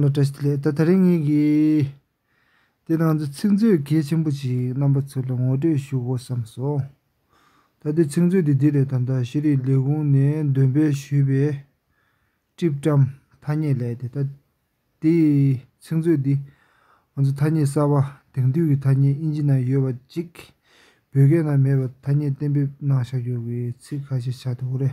ལོ་བཀྲ་ཤིས་ལེགས་ད་ད་རེས་ངེད་ཀྱིས་དེ་དང་འདི་ཚིག་མཛོད་གལ་ཆེན་པོ་ཞིག་རྣམ་པ་ཚོ་ལ་ངོ་སྤྲོད་ཞུ་དགོས་བསམ་སོ། ད་ལྟའི་ཚིག་མཛོད་འདི་དེ་ལས་ད་ལྟ་ཤེས་རིག་ལས་ཁུངས་ནས་འདོན་སྤེལ་ཞུས་པའི། སྤྲི་བཀྲམ། ཐ་སྙད་ལས་ཏེ་ད་ལྟའི་ཚིག་མཛོད་འདི་ང་ཚོ་ཐ་སྙད་གསར་བ་དེང་དུས་ཀྱི་ཐ་སྙད་དབྱིན་ཇི་ནང་ཡོད་པ་གཅིག་བོད་སྐད་ནང་མེད་པ་ཐ་སྙད་གཏན་འབེབས་གནང་བཞག་ཡོད་པའི་ཚིག་ཁ་ཤས་ཆ་དོ་རེད་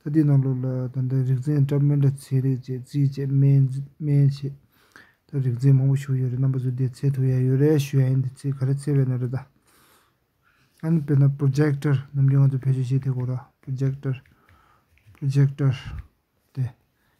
ད་ལྟའི་གནམ་ལོ་ལ་ད་ལྟ་རིག་འཛིན་བཀྲ་སྨན་དྲ་ཚེ་རིག་བཅས་རྩིས་བཅས་སྨན་བྱེད་ད་རིག་འཛིན་མང་པོ་བཞུགས་ཡོད་རེད་རྣམ་པ་ཚོ་བསྡད་ཚེ་ཐུག་ཡ་ཡོད་རེད་ཞུ་ཡ་ཡིན་དེ་ཚེ་ག་རེ་ཚེ་བས་ན་རེད་ད། ཨ་ནི་དཔེར་ན Projector ནམ་རྒྱུན་ང་ཚོ་བེད་སྤྱོད་བྱེད་དེ་གོ་ར Projector Projector དེ།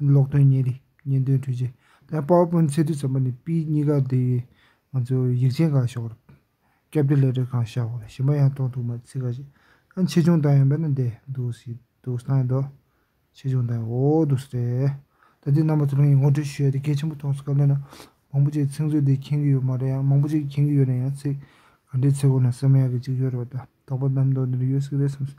ལོག་དོན་གཉེན་རིགས་གཉེན་དོན་འཁྲུལ་ཆེ། ད་དཔའ་བོ་དཔོན་ཚེ་དུས་ཙམ་པ་ནས་དཔེ་གཉིས་ཀ་དེ་ཡི་ང་ཚོ་ཡིག་ཆེན་གང་ཤོག་ར། སྐྱབས་བདེ་ལས་བྲེལ་གང་ཤག་ཞིམ་པ་ཡང་གཏོང་ཐུག་མ་ཚིག་ག་ཞིག་ཨ་ཆེ་ཆུང་དང་ཡང་བས་ན་འདས་འདུག་སི་འདུག་སྟངས་ཡིན་འདུག་ཆེ་ཆུང་དང་ཡང་འོ་འདུག་སི་རེད། ད་དུས་རྣམ་པ་ཚོ་རང་ཡིག་ངོ་སྤྲོད་ཞུས་ཡ་དེ་གལ་ཆེན་པོ་ཐོག་སི་ག་ལོན་ན་མང་པོ་ཅིག་ཚིག་མཛོད་འདི་མཁྱེན་གི་ཡོད་མ་རེད་ཡང་མང་པོ་ཅིག་མཁྱེན་གི་ཡོད་ན་ཡང་ཚིག་ག་འདྲའི་ཚེ་གོ་ན་སེམས་ཡག་གི་ཅིག་ཡོད་རེད་བ་ད་དོག་པ་རྣམ་རྟོག་འདི་འདྲ་ཡོད་སི་རེད་སེམས་སི།